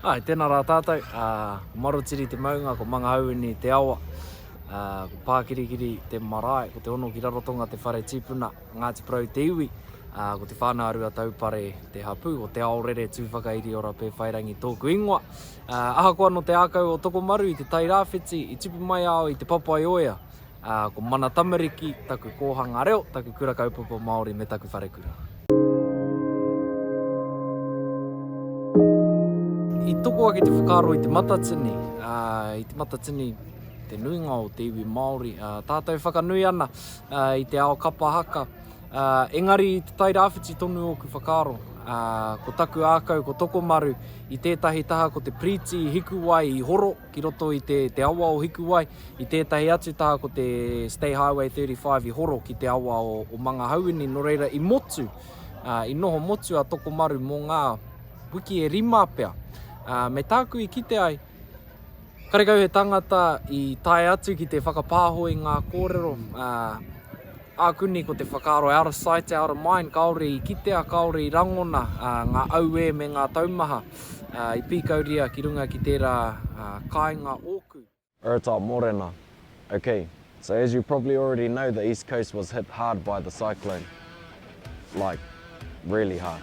Hai, tēnā rā tātou, ko Marotiri te maunga, ko Mangaauini te awa, ko Pākirikiri te marae, ko Te Hono ki Rarotonga te whare tipuna, Ngāti Porou te iwi, ko Te Whānau a Ruataupare te hapū, ko Te Aorere tū whakairi ora Pēwhairangi tōku ingoa. Ahakoa nō te ākau o Tokomaru i te Tairāwhiti i tipu mai au i Te Papaioea, ko mana tamariki taku kōhanga reo, taku kura kaupapa Māori me taku wharekura. I toko ake te whakaaro i Te Matatini, i Te Matatini te nuinga o te iwi Māori, tātou whakanui ana i te ao kapa haka, Engari i Te Tai Rāwhiti tonu ōku whakaaro. Ko taku ākau ko Tokomaru i tētahi taha ko te piriti Hikuwai i horo ki roto i te awa o Hikuwai, i tētahi atu taha ko te State Highway 35 i horo ki te awa o Mangahauini, nō reira i motu, i noho motu a Tokomaru mō ngā wiki e rima pea. Me tāku i kite ai, Karekau he tangata i tae atu ki te whakapāho i ngā kōrero, ā, āku nei ko te whakaaro out of sight, out of mind, kāore i kitea, kāore i rangona ngā auē me ngā taumaha i pīkauria ki runga ki tērā kāinga ōku. Rata Morena Ok, so as you probably already know the East Coast was hit hard by the cyclone, like really hard.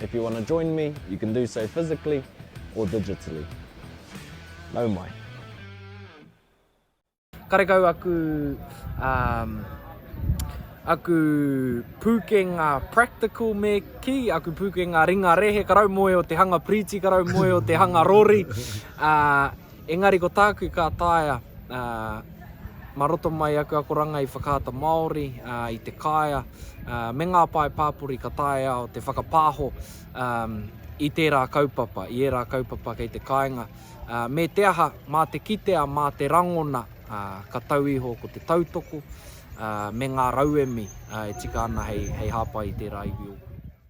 If you wanna join me, you can do so physically or digitally. Nau mai. Karekau aku um, aku pūkenga practical me ki, aku pūkenga ringa rehe, ka rau moe o te hanga piriti, ka rau moe o te hanga rori. Uh, Engari ko tāku ka taea mā roto mai aku akoranga i Whakaata Māori, i Te Kāea, me ngā pae pāpori ka taea au te whakapāho i tērā kaupapa, i ērā kaupapa kei te kāinga. Me te aha, mā te kitea, mā te rangona ka tau iho ko te tautoko me ngā rauemi e tika ana hei hāpai i tērā iwi ōku.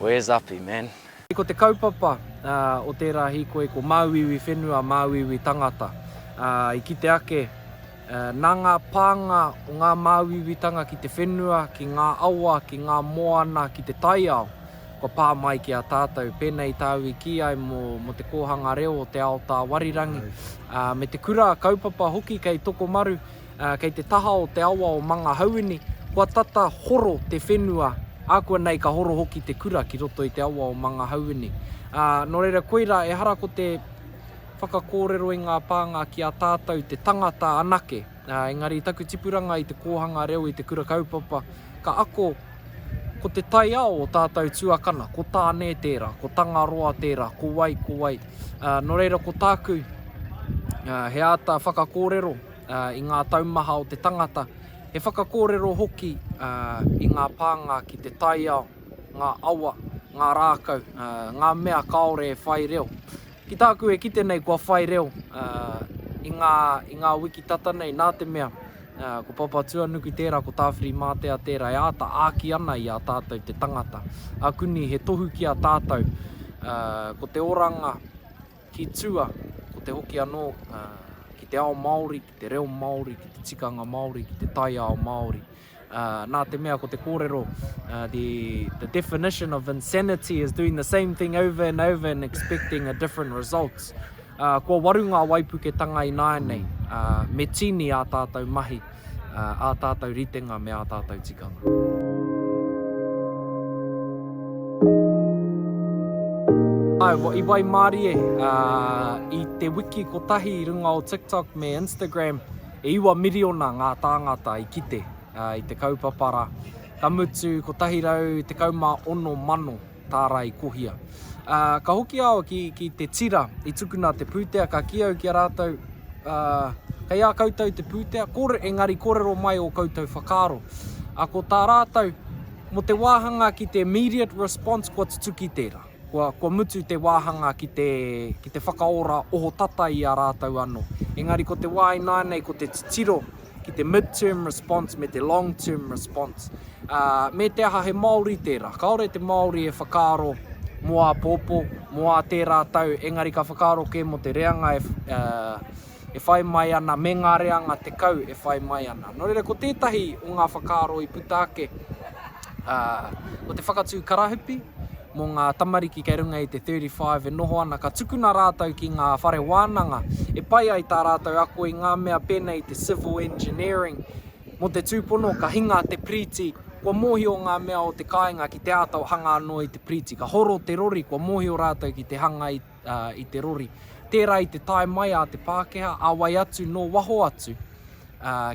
Where's Api man? Ko te kaupapa o tērā hīkoi ko māuiui whenua, māuiui tangata. I kite ake, nā ngā pānga o ngā māuiuitanga ki te whenua, ki ngā awa, ki ngā moana, ki te taiao, kua pā mai ki a tātou. Pēnei tāu i kī ai mō te kōhanga reo o te ao tāwarirangi, me te kura kaupapa hoki kei Tokomaru, Kei te taha o te awa o Mangahauini, kua tata horo te whenua, ākuanei ka horo hoki te kura ki roto i te awa o Mangahauini. Nō reira, koirā, ehara ko te whakakōrero i ngā pānga ki a tātou te tangata anake, engari taku tipuranga i te kōhanga reo i te kura kaupapa, ka ako ko te taiao o tātou tuakana, ko Tāne tērā, ko Tangaroa tērā, ko wai, ko wai. Nō reira, ko tāku, he āta whakakōrero, i ngā taumaha o te tangata, he whakakōrero hoki i ngā pānga ki te taiao, ngā awa, ngā rākau, ngā mea kāore e whai reo. Ki tāku e kite nei kua whai reo i ngā, i ngā wiki tata nei nā te mea ko Papatuanuku tērā, ko Tāwhirimātea tērā e āta āki ana i a tātou te tangata. A Kuni, he tohu ki a tātou, ko te oranga, Ki tua, ko te hoki anō ki te ao Māori, ki te reo Māori, ki te tikanga Māori, ki te taiao Māori. Nā te mea ko te kōrero, the definition of insanity is doing the same thing over and over and expecting a different result. Kua waru ngā waipuketanga ināianei, me tīni ā tātou mahi. ā tātou ritenga me ā tātou tikanga. I waimarie i te wiki kotahi i runga o TikTok me Instagram, e iwa miriona ngā tāngata i kite i te kaupapa rā, ka mutu 116 mano. tārai kohia. Ā, ka hoki a awa ki, ki te tira i tukuna te pūtea, ka ki au ki a rātou, ā, kei a koutou te pūtea, kore, engari korero mai o koutou whakaaro. Ā, ko tā rātou, mo te wāhanga ki te immediate response, kua tutuki tērā. Kua, kua mutu te wāhanga ki te, ki te whakaora ohotata i a rātou anō. Engari ko te wā ināianei ko te titiro ki te mid-term response me te long-term response. Ā, me te aha he Māori tērā. Kāore te Māori e whakaaro mō āpōpō, mō ā tērā tau, engari ka whakaaro kē mō te reanga e, ā, e whai mai ana, me ngā reanga tekau e whai mai ana. Nō reira, ko tētahi o ngā whakaaro i puta ake, Ā, ko te whakatū karahupi mō ngā tamariki kei runga i te 35 e noho ana ka tukuna rātou ki ngā whare wānanga e pai ai tā rātou ako i ngā mea pēnei i te Civil Engineering. Mō te tūpono ka hinga te piriti kua mōhio ngā mea o te kāinga ki te āta hanga anō i te piriti. Ka horo te rori kua mōhio rātou ki te hanga i. i te rori. Tērā i te tae mai a te Pākehā, a wai atu, nō waho atu,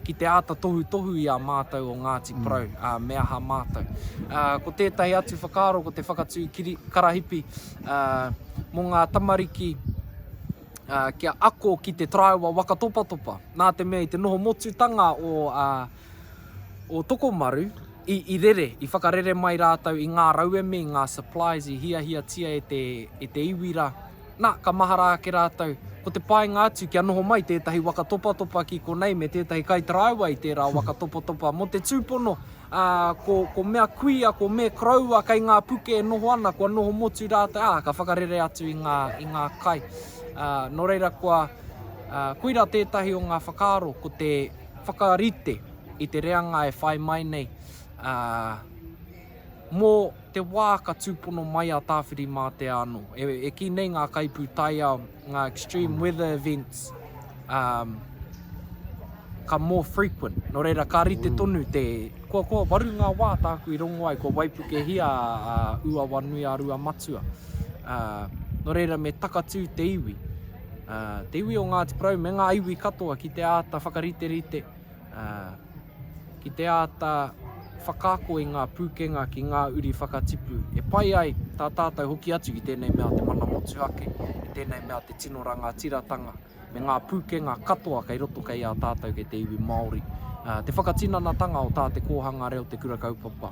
ki te āta tohutohu i a mātou o Ngāti mm. Porou, mm. uh, me aha mātou. Uh, ko tētahi atu whakaaro, ko te whakatū kiri, karahipi uh, mō ngā tamariki uh, kia ako ki te taraiwa wakatopatopa. Nā te mea i te noho motutanga o uh, o Tokomaru, i, i rere, i whakarere mai rātou i ngā rauemi, ngā supplies i hiahiatia e te, e te iwi rā. Nā, ka mahara ake rātou, ko te painga atu kia noho mai tētahi waka topatopa ki konei me tētahi kaitaraiwa i tērā waka topatopa mō te tūpono, ā, ko, ko mea kuia, ko me koroua kei ngā puke e noho ana, kua noho motu rātou, ā, ka whakarere atu i ngā, i ngā kai. Ā, nō reira kua, ā, koira tētahi o ngā whakaaro, ko te, whakarite i te reanga e whai mai nei mō te wā ka tūpono mai a Tāwhirimātea anō. E, e ki nei ngā kaipūtaiao, ngā extreme weather events, um, ka more frequent. Nō reira, ka rite mm. tonu te... Kua, kua waru ngā wā tāku i rongo ai, kua waipukehia a uh, Uawanui a Ruamatua. Uh, nō reira, me takatū te iwi. Te iwi o Ngāti Porou me ngā iwi katoa ki te āta whakariterite, ki te āta whakaako i ngā pūkenga ki ngā uri whakatipu e pai ai tā tātou hoki atu ki tēnei mea o te mana motuhake, i tēnei mea o te tino rangatiratanga me ngā pūkenga katoa kei roto kei a tātou kei te iwi Māori. Te whakatinanatanga o tā te kōhanga reo te Kura Kaupapa.